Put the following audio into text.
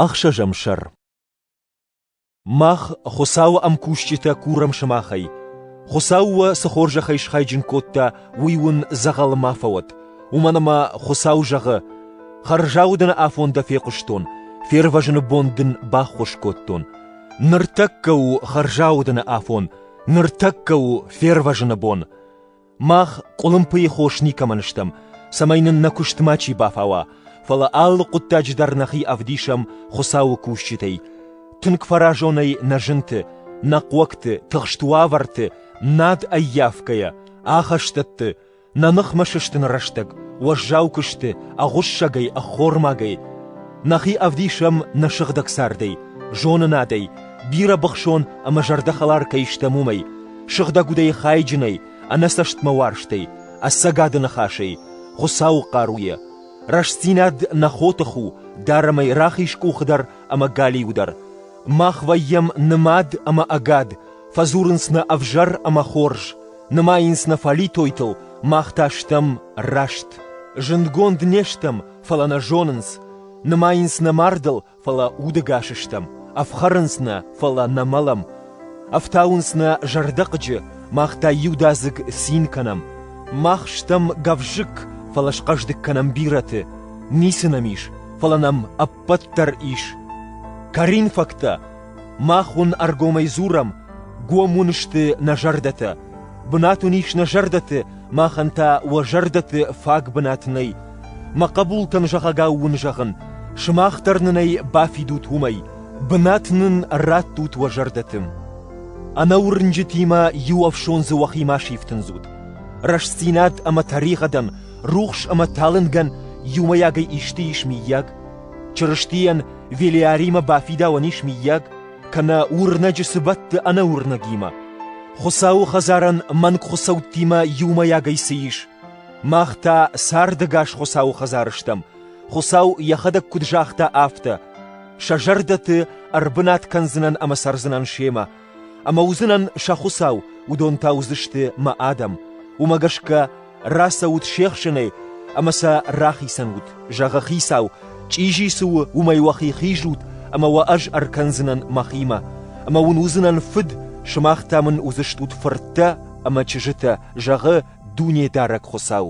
Ӕхсӕзӕм сӕр Мах, Хуыцауы ӕмкусджытӕ, курӕм сымахӕй. Хуыцау уӕ цы хорзӕхӕй схайджын кодта, уый уын дзӕгъӕл ма фӕуӕд. Уымӕн ӕмӕ Хуыцау зӕгъы: «Хӕрзауды нӕ афон дӕ фехъуыстон, фервӕзыны бон дын баххуыс кодтон. Ныртӕккӕ у хӕрзаудыны афон, ныртӕккӕ у фервӕзыны бон». Мах къуылымпыйы хос никӕмӕн стӕм, цӕмӕй нын нӕ куыст мачи бафауа, фӕлӕ алы хъуыддаджы дӕр нӕхи ӕвдисӕм Хуыцауы кусджытӕй. Тынг фӕразонӕй нӕ зынты, нӕ хъуӕгты, тыхст уавӕрты, над ӕййафгӕйӕ, ахӕстӕтты, нӕ ныхмӕ сыстыны рӕстӕг, уӕззау куысты, ӕгъуыссӕгӕй, ӕххормагӕй. Нӕхи ӕвдисӕм нӕ сыгъдӕг цардӕй, зонынадӕй, бирӕбыхсон ӕмӕ зӕрдӕхӕлар кӕй стӕм, уымӕй. Сыгъдӕг удӕй хайджынӕй, ӕнӕцӕстмӕ уарзтӕй, ӕцӕгады ныхасӕй, Хуыцауы хъаруйӕ, рӕстдзинад нӕ хотых у дарӕмӕй рахиз къухы дӕр ӕмӕ галиу дӕр. Мах вӕййӕм нымад ӕмӕ ӕгад, фӕдзурынц нӕ ӕвзӕр ӕмӕ хорз, нымайынц нӕ фӕлитойтыл, мах та стӕм раст. Зындгонд не стӕм, фӕлӕ нӕ зонынц, нымайынц нӕ мардыл, фӕлӕ удӕгас стӕм, ӕфхӕрынц нӕ, фӕлӕ нӕ мӕлӕм, ӕфтауынц нӕ зӕрдӕхъыджы, мах та иудадзыг цин кӕнӕм, мах стӕм гӕвзыкк, фӕлӕ схъӕздыг кӕнӕм бирӕты, ницы нӕм ис, фӕлӕ нӕм ӕппӕт дӕр ис. Коринфӕгтӕ Мах уын ӕргомӕй дзурӕм, гом уын сты нӕ зӕрдӕтӕ. Бынат уын ис нӕ зӕрдӕты, махӕн та уӕ зӕрдӕты фаг бынат нӕй. Мӕ хъӕбултӕн зӕгъӕгау уын зӕгъын, сымах дӕр нын ӕй бафидут уымӕй, бынат нын раттут уӕ зӕрдӕты. Ӕнӕуырнджытимӕ иу ӕфсон дзы уӕхи ма сифтындзут. Рӕстдзинад ӕмӕ тӕригъӕдӕн, рухс ӕмӕ талынгӕн иумӕйагӕй исты ис миййаг? Чырыстийӕн Велиаримӕ бафидауӕн ис, миййаг, кӕнӕ уырнӕджы цы бӕтты ӕнӕуырнӕгимӕ. Хуыцауы хӕдзарӕн мӕнгхуыцӕуттимӕ иумӕйагӕй цы ис? Мах та цардӕгас Хуыцауы хӕдзары стӕм. Хуыцау йӕхӕдӕг куыд загъта, афтӕ: «Сӕ зӕрдӕты ӕрбынат кӕндзынӕн ӕмӕ цӕрдзынӕн семӕ, Ӕмӕ уыдзынӕн сӕ Хуыцау, уыдон та уыдзысты мӕ адӕм. Уымӕ гӕсгӕ рацӕут се хсынӕй ӕмӕ сӕ рахицӕн ут, зӕгъы Хицау, чъизи цы у, уымӕй уӕхи хизут, ӕмӕ уӕ ӕз ӕркӕндзынӕн мӕхимӕ. Ӕмӕ уын уыдзынӕн фыд, сымах та мын уыдзыстут фырттӕ ӕмӕ чызджытӕ, зӕгъы Дунедарӕг Хуыцау.